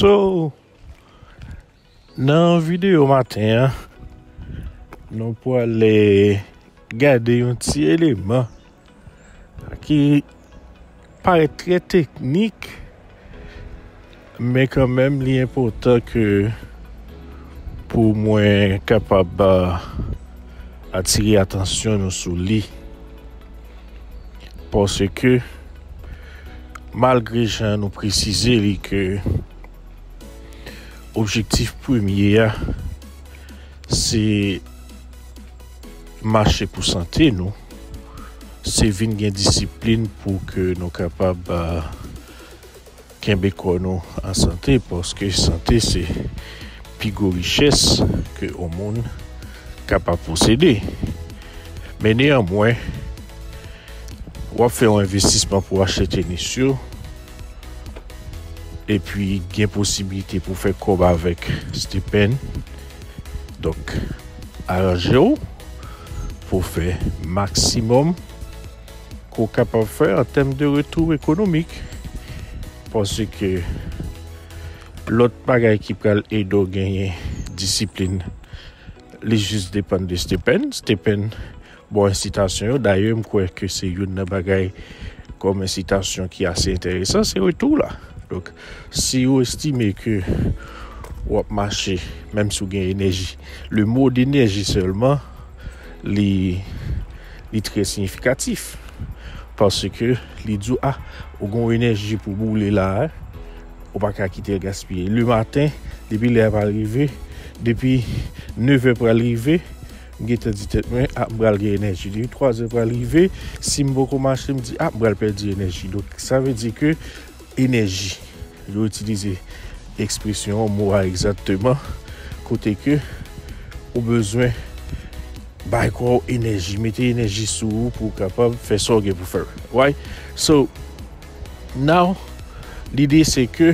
So, nan videyo maten an, nou pou ale gade yon ti eleman ki... Parèt trè teknik men kan menm li enpotan ke pou mwen kapab atire atansyon nou sou li. Paske malgre jan nou presize li ke objektif premye a se Mache pou sante nou, se vin gen disiplin pou ke nou kapab kenbe kò nou an sante, paske sante se pi gwo richès ke yon moun kapab posede. Men neyanmwen, wap fè yon envestisman pou achte tenis yo, epi gen posibilite pou fè kòb avèk Stephen, Donk aranje w pou w fè maksimòm ke w kapab fè an tèm de retou ekonomik. Paske lòt bagay ki pral ede w genyen disiplin, li jis depann de Stephen. Stephen. Bon ensitasyon yo, dayè m kwè ke se youn nan bagay kòm ensitasyon ki ase enteresan se retou la. Donk si ou estime ke ou ap mache menm si ou gen enèji, le mo d'enerji sèlman li li trè siyifikatif paske li di ou a ou gon enèji pou boule la a ou pa ka kite l gaspiye. Le maten depi lè a pa rive, depi 9 è pral rive M gentan di tèt mwen ah m pral gen enèji depi 3 zè pral rive sim poko mache m di ah m pral pèdi enèji donk sa vle di ke enèji yo itilize ekspresyon an mo a egzakteman kote ke ou bezwen bay kò w enèji mete enèji sou ou pou w kapab fè sa w gen pou fè right so now lide se ke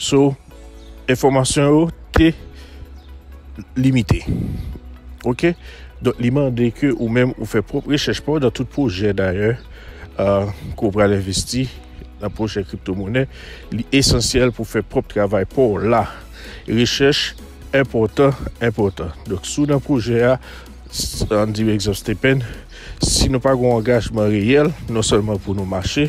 So, enfòmasyon yo te limite. Ok? Donk li mande ke ou menm ou fè pwòp rechèch pa ou nan tout pwojè dayè euh, ke ou pral envesti nan pwojè kripto monè. Li esansyèl pou fè pwòp travay pa ou la. Rechèch enpòtan, enpòtan. Donk sou nan pwojè a, an di egzanp Stephen, si nou pa gon angajman reyèl, non sèlman pou nou mache,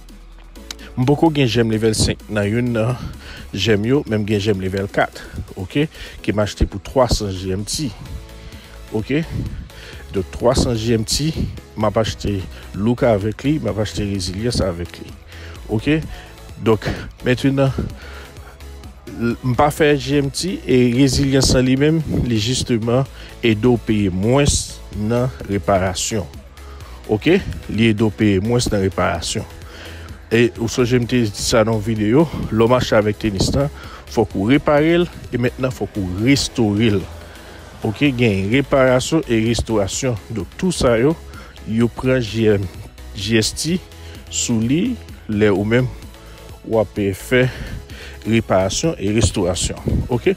M poko gen jèm level 5 nan youn nan jèm yo men m gen jèm level 4 ok ke m achte pou 300 GMT ok donk 300 GMT m ap achte look avèk li m ap achte rezilyans avèk li ok donk mentenan m pa fè GMT e rezilyans lan li menm li jisteman ede w peye mwens nan reparasyon. Ok li ede w peye mwens nan reparasyon. E ou sonje m te di sa nan yon videyo, lè w mache avèk tenis lan, fòk ou repare l e mentnan fòk ou restore l. Ok gen reparasyon e restorasyon donk tou sa yo, yo pran GST sou li lè ou menm w ap fè reparasyon e restorasyon ok.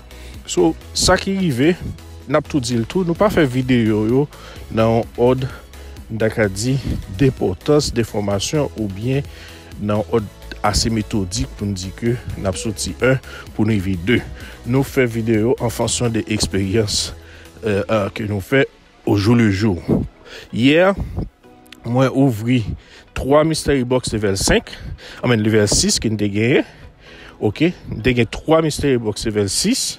So sa ki rive n ap tou di l tou nou pa fè videyo yo. nan yon òd n ta ka di denpòtans de fòmasyon oubyen nan yon òd ase metodik pou n di ke n ap soti 1 pou n rive 2. Nou fè videyo an fonksyon de eksperyans ke nou fè o jou le jou. Yè, mwen ouvri 3 mystery box level 5, I mean level 6 ke n te genyen. Ok, n te gen 3 mystery box level 6.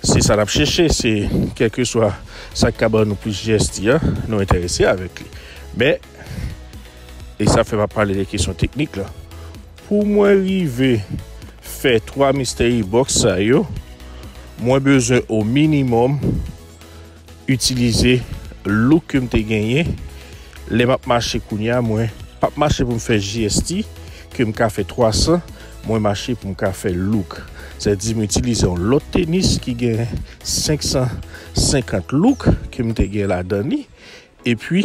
Si sa n ap chèche se kèlkeswa sa ki ka ban nou plis jèsti a, nou enterese avèk li. Men, e sa fè m ap pale de kesyon teknik la, pou mwen rive fè 3 mystery box sa yo, mwen bezwen o minimòm, itilize look ke m te genyen lè m ap mache kounye a mwen pap mache pou m fè JST ke m ka fè 300 mwen mache pou m ka fè look sa vle di m itilize yon lòt tenis ki gen 550 look ke m te gen ladan li epi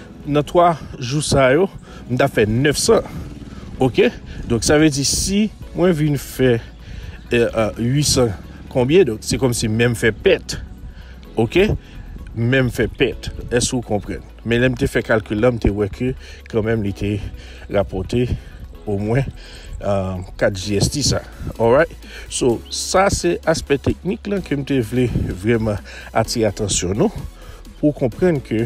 Nan 3 jou sa yo m ta fè 900 ok donk sa vle di si mwen vin fè 800 konbyen donk se kòm si menm fè pèt ok menm fè pèt èske ou konprann men lèm te fè kalkil la m te wè ke kan menm li te rapòte o mwen 4 jst sa alright so sa se aspè teknik la ke m te vle vreman atire atansyon nou pou konprann ke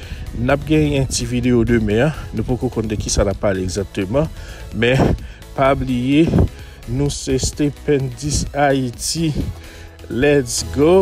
Nap gen yon ti video demen an, nou poko konn de kisa nap pale egzakteman, men pa bliye nou se stependis ayiti let's go!